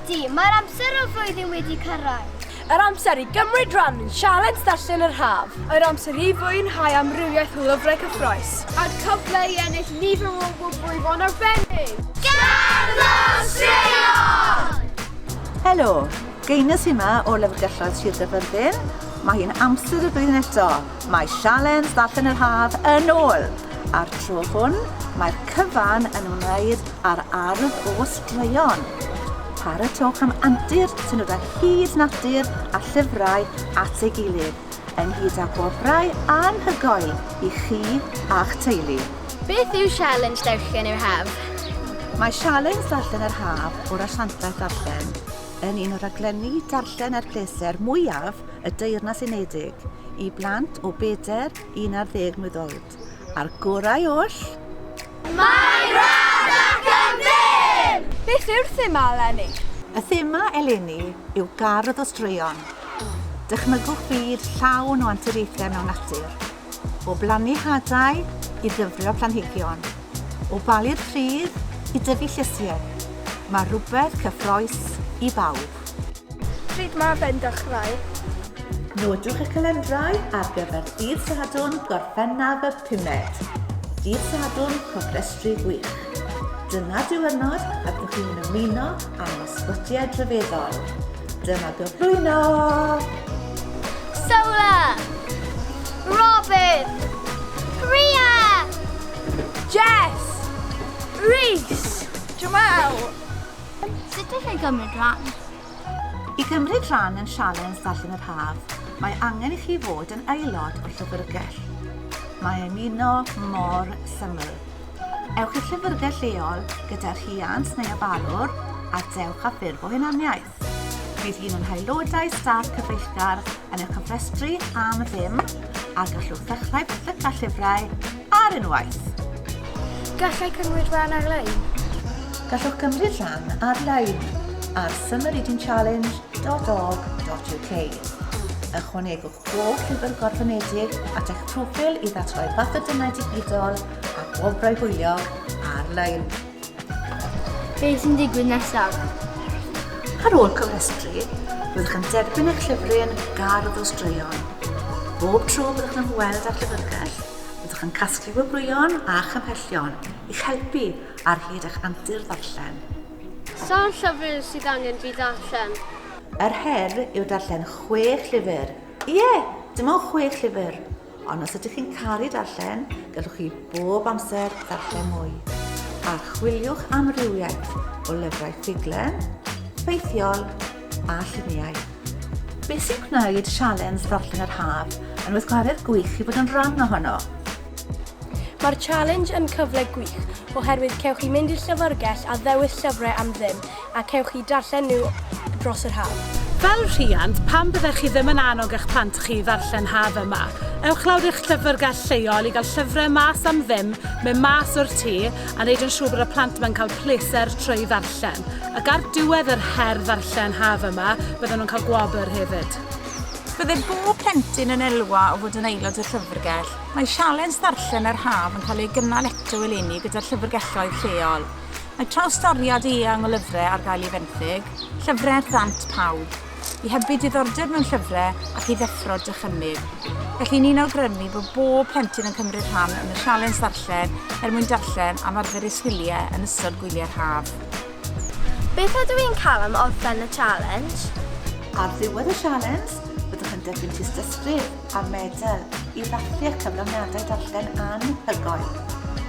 Ydy, mae'r amser o flwyddyn wedi cyrraedd. Yr amser i gymryd rhan yn sialens darllen yr haf. Yr amser i fwynhau amrywiaeth o lyfrau cyffroes. A'r cyfle i ennill nifer o gwbl fo'n arbennig. Gerddor Straeon! Helo, Genus hynna o lyfrgelloedd Sir Gaerfyrddin, mae hi'n amser y flwyddyn eto, mae Sialens Ddarllen yr Haf yn ôl! A'r tro hwn, mae'r cyfan yn ymwneud â'r ardd o straeon. Paratoch am antur sy'n dod â hyd natur a llyfrau at ei gilydd, ynghyd â gwobrau anhygoel i chi a'ch teulu. Beth yw Sialens Darllen yr Haf? Mae Sialens Darllen yr Haf o'r Asiantaeth Ddarllen. yn un o raglenni darllen a'r pleser mwyaf y Deyrnas Unedig i blant o beder i 11 mlwydd oed, a'r gorau oll! Mae'n rhad ac yn fyr! Beth yw'r thema eleni? Y thema eleni yw gardd o straeon. Dychmygwch fyd llawn o anturiaethau mewn natur. o blannu hadau i ddyfrio planhigion, o balu'r pridd i dyfu llysiau, mae rhywbeth cyffrous i bawb. Pryd mae fe'n dechrau? Nodwch y calendrau ar gyfer dydd Sadwrn Gorffennaf y pumed, dydd Sadwrn cofrestru gwych. Dyma diwrnod y byddwch chi'n ymuno â'n ysbytiau drefeddol. Dyma gyflwyno! Solar! Robin! Rhea! Jess! Rhys! Jamal! Sut allai gymryd rhan? I gymryd rhan yn sialens Darllen yr Haf, mae angen i chi fod yn aelod o'r Llyfrgell. Mae ymuno mor syml. Ewch i'r llyfrgell leol gyda rhiant neu ofalwr a dewch â ffurf o hunaniaeth. Bydd un o'n haelodau staff cyfeillgar yn eich cofrestru am ddim a gallwch ddechrau pethyca llyfrau ar unwaith. Gallai cymryd rhan ar-lein. Gallwch gymryd rhan ar-lein ar summerreadingchallenge.org.uk. Ychwanegwch bob llyfr gorfynedig at eich proffil i ddatgloi papur-denau digidol a gwobrau hwyliog ar-lein. Beth sy'n digwydd nesaf? Ar ôl cofrestru, byddwch yn derbyn eich llyfrau yn eich gar o straeon. Bob tro byddwch yn ymweld â'r llyfrgell, byddwch yn casglu gwobrwyon a chymhellion i'ch helpu ar hyd eich antur ddarllen. Sawl llyfr sydd angen fi ddarllen? Yr her yw darllen chwech llyfr. Ie, dim ond chwech llyfr. Ond os ydych chi'n caru darllen, gallwch chi bob amser ddarllen mwy. Archwiliwch amrywiaeth o lyfrau ffuglen, ffeithiol a lluniau. Beth sy'n gwneud Sialens Ddarllen yr Haf yn weithgaredd gwych i fod yn rhan ohono? Mae'r Challenge yn cyfle gwych oherwydd cewch chi mynd i'r llyfrgell a ddewis llyfrau am ddim a cewch eu darllen nhw dros yr haf. Fel rhiant, pam byddech chi ddim yn annog eich plant chi i ddarllen haf yma? Ewch lawr i'ch llyfrgell lleol i gael llyfrau mas am ddim, mynd mas o'r tŷ a wneud yn siŵr bod y plant yma'n cael pleser trwy ddarllen. Ac ar diwedd yr her ddarllen haf yma, bydden nhw'n cael gwobr hefyd. Bydde bob plentyn yn elwa o fod yn aelod o'r llyfrgell. Mae sialens ddarllen yr haf yn cael ei gynnal eto eleni gyda'r llyfrgelloedd lleol. Mae trawstoriad eang o lyfrau ar gael i fenthyg, llyfrau ar ddant pawb, i hybu diddordeb mewn llyfrau ac i ddeffro dychymyg. Felly ni'n awgrymu bod bob plentyn yn cymryd rhan yn y sialens ddarllen er mwyn darllen am arfer eu sgiliau yn ystod gwyliau'r haf. Beth ydw i'n cael am orffen y sialens? Ar ddiwedd y sialens, byddwch yn derbyn tystysgrif a medal i ddathlu'r cyflawniadau darllen anhygoel.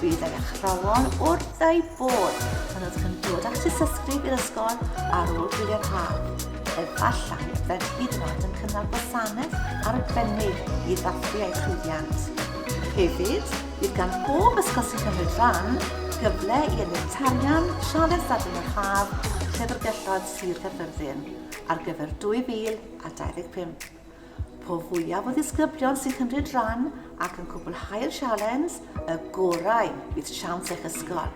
Bydd yr athrawon wrth eu bod pan ydych yn dod at ysgrif i'r ysgol ar ôl gwylio'r haf. Efallai y byddent hyd yn oed yn cynnal gwasanaeth arbennig i ddathlu eu llwyddiant. Hefyd, bydd gan bob ysgol sy'n cymryd rhan gyfle i ennill tarian Sialens Dadlen yr Haf Llyfrgelloedd Sir Gaerfyrddin ar gyfer 2025. Po fwyaf o ddisgyblion sy'n cymryd rhan ac yn cwblhau'r sialens, y gorau fydd siawns eich ysgol.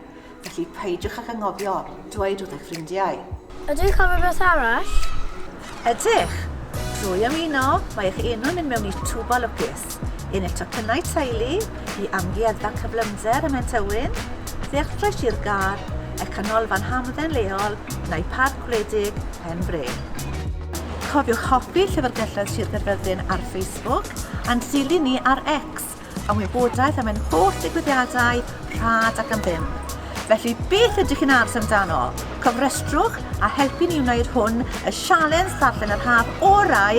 Felly peidiwch ag angofio dweud wrth eich ffrindiau. Ydw i'n cofio beth arall? Ydych! Drwy ymuno, mae eich enw'n mynd mewn i twb o lwcus. Un i'r tocynnau teulu, i Amgueddfa Cyflymder ym Mhen Tywyn, Ddealltwraig Sir Gâr, eich canolfan hamdden leol, neu Parc gwledig pen brên. Cofiwch hoffi Llyfrgelloedd Sir Gaerfyrddin ar Facebook a'n dilyn ni ar X am wybodaeth am ein holl ddigwyddiadau rhad ac am ddim. Felly beth ydych chi'n aros amdano? Cofrestrwch a helpu ni wneud hwn y sialens ddarllen yr haf orau